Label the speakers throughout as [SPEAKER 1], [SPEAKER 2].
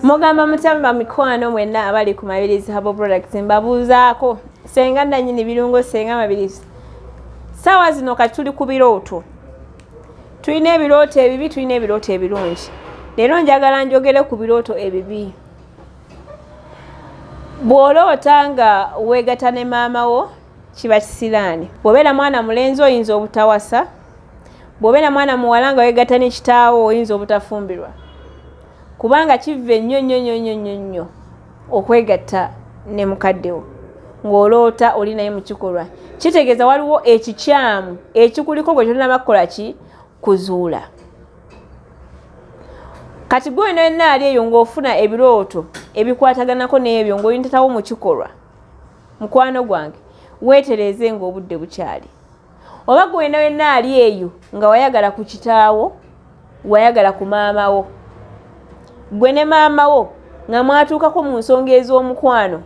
[SPEAKER 1] mugamba mutamba mikwano mwenna abali ku mabirizi habo products mbabuuzaako senga nanyini birungo senga mabirizi saawa zino kati tuli ku birooto tulina ebirooto ebibi tulina ebirooto ebirungi leero njagala njogere ku birooto ebibi bw'oloota nga weegata ne maama wo kiba kisiraani bw'obeera mwana mulenzi oyinza obutawasa bw'obeera mwana muwala nga weegata ne kitaawo oyinza obutafumbirwa kubanga kivve nnyo nnyo nnyo nnyo nnyo nnyo okwegatta ne mukaddewo ng'oloota oli naye mu kikolwa kitegeeza waliwo ekikyamu ekikuliko gwe tolina bakukola ki kuzuula kati gwe olina yonna ali eyo ng'ofuna ebirooto ebikwataganako n'ebyo ng'oyintatawo mu kikolwa mukwano gwange weetereeze ng'obudde bukyali oba gwe wena wena ali eyo nga wayagala ku kitaawo wayagala ku maama wo gwe ne maama wo nga mwatuukako mu nsonga ez'omukwano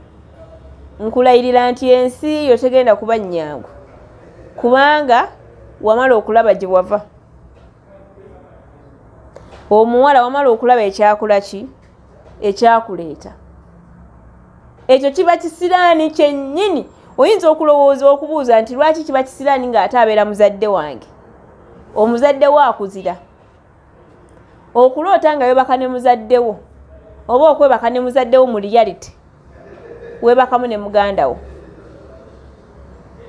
[SPEAKER 1] nkulayirira nti ensi yo tegenda kuba nnyangu kubanga wamala okulaba gye wava omuwala wamala okulaba ekyakula ki ekyakuleeta ekyo kiba kisiraani kyennyini oyinza okulowooza okubuuza nti lwaki kiba kisiraani ng'ate abeera muzadde wange omuzadde wo akuzira okuloota nga yobaka ne muzadde wo oba okwebaka ne muzadde wo mu reality webakamu ne muganda wo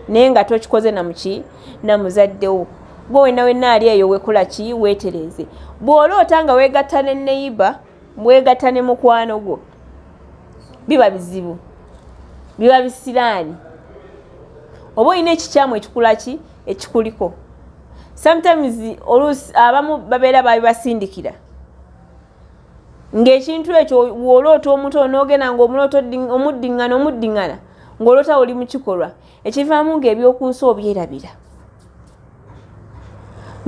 [SPEAKER 1] naye nga tokikoze namuki namuzaddewo gwe wena wena ali eyo wekula ki wetereze bwoloota nga wegatta ne neyiba wegatta ne mukwano gwo biba bizibu biba bisiraani oba olina ekikyamu ekikulaki ekikuliko sometimes oluusi abamu babeera babibasindikira ng'ekintu ekyo woloota omuto onoogenda ngaomuloota omuddiŋŋana omuddiŋŋana ng'oloota oli mu kikolwa ekivaamu ng'ebyoku nsi obyerabira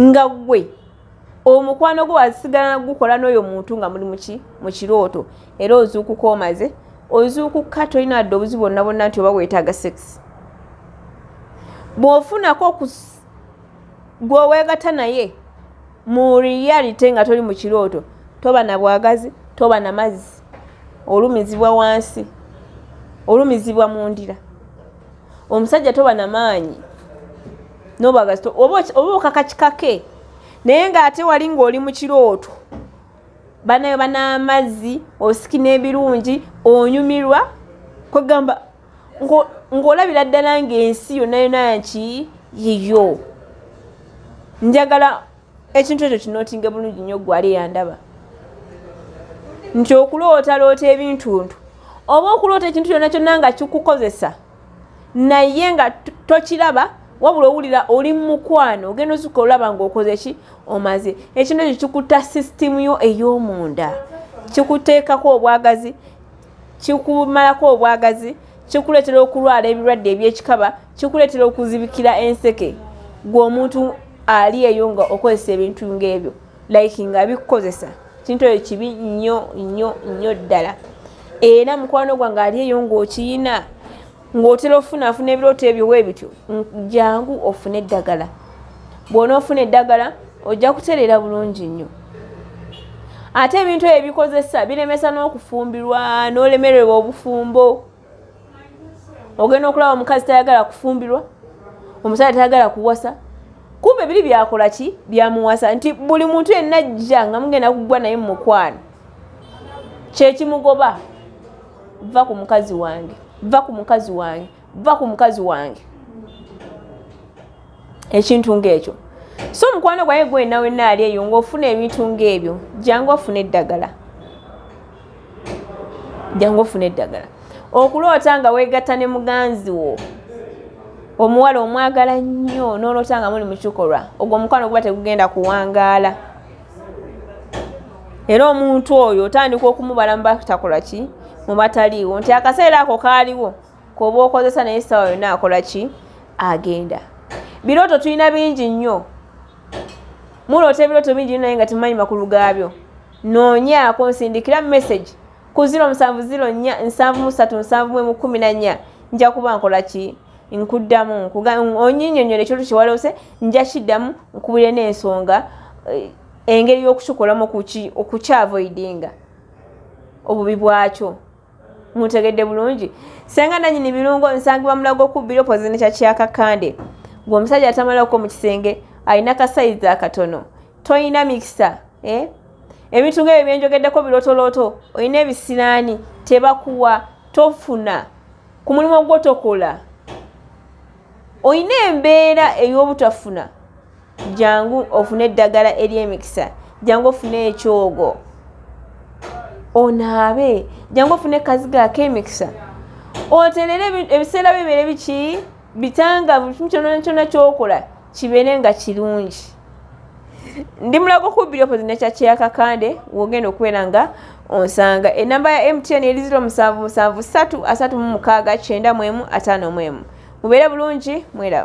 [SPEAKER 1] nga ggwe omukwano gwo wasigala nagukola n'oyo muntu nga muli muki mu kirooto era ozuukuka omaze ozuukuka tolina adde obuzibu bonna bonna nti oba weetaaga sekisi bw'ofunako gwe owegata naye mu reality nga toli mu kirooto toba na bwagazi toba na mazzi olumizibwa wansi olumizibwa mu ndira omusajja toba na maanyi nobwagazi oba okakakikake naye ng'ate wali ng'oli mu kirooto banayo ban'amazzi osikina ebirungi onyumirwa kwegamba ng'olabira ddala ng'ensi yonna yona nki yiyo njagala ekintu ekyo kinootinge bulungi nnyo gwali eyandaba nti okulootaloota ebintuntu oba okuloota ekintu kyonna kyonna nga kikukozesa naye nga tokiraba wabula owulira oli mumukwano ogenda osuka olaba ngaokoze ki omaze ekintu ekyo kikuta sisitimu yo ey'omunda kikuteekako obwagazi kikumalako obwagazi kikuleetera okulwala ebirwadde ebyekikaba kikuleetera okuzibikira enseke gwe omuntu ali eyo nga okozesa ebintu ngaebyo like nga bikukozesa kintu oyo kibi nnyo nnyo nnyo ddala era mukwano gwange ali eyo ngaokiyina ng'otera ofuna afuna ebirooto ebyo weebityo jangu ofune eddagala bwona ofuna eddagala ojja kutereera bulungi nnyo ate ebintu ebyo bikozesa biremesa n'okufumbirwa n'olemererwa obufumbo ogenda okulaba omukazi tayagala kufumbirwa omusajja tayagala kuwasa kumbe biri byakola ki byamuwasa nti buli muntu yenna ajja nga mugenda kuggwa naye mu mukwano kyekimugoba va ku mukazi wange va ku mukazi wange va ku mukazi wange ekintu ng'ekyo so omukwano gwaye gwena wena ali eyo ngaofuna ebintu ngaebyo jangu ofuna eddagala jangu ofuna eddagala okuloota nga wegatta ne muganzi wo omuwala omwagala nnyo noloota nga muli mukikolwa ogwo omukwano guba tegugenda kuwangaala era omuntu oyo otandika okumubala mubatakola ki mubataliiwo nti akaseera ako kaaliwo koba okozesa naye saawa yona akola ki agenda birooto tulina bingi nnyo muloota ebirooto bingi nyo naye nga temumanyi makulu gaabyo noonyaako nsindikira message ku 0704 737 1 nja kuba nkola ki nkuddamu onyinyonyole ekyoto kyewalose nja kiddamu nkubulire n'ensonga eh, engeri y'okukikolamu okukyavoidinga obubi bwakyo mutegedde bulungi senga nanyini birungo nsangibwa mulago okubbira opozine kya kyakakande gwe omusajja atamalako mu kisenge alina kasayizi akatono tolina mikisa eh? ebintu ngaebyo byenjogeddeko birotoloto olina ebisiraani tebakuwa tofuna ku mulimu gwo tokola olina embeera ey'obutafuna jangu ofune eddagala ery'emikisa jangu ofune ekyogo onaabe jangu ofune kaziga ak'emikisa oterere ebiseera bibeere biki bitangavu kimu kyona kyona kyokola kibeere nga kirungi ndi mulago kubbiri opozi nekyakye ya kakande wogenda okubeera nga onsanga enamba ya mtn eri ziro musanvu musanvu satu asatu mu mukaaga kyenda mwemu ataano mwemu mubeere bulungi mwera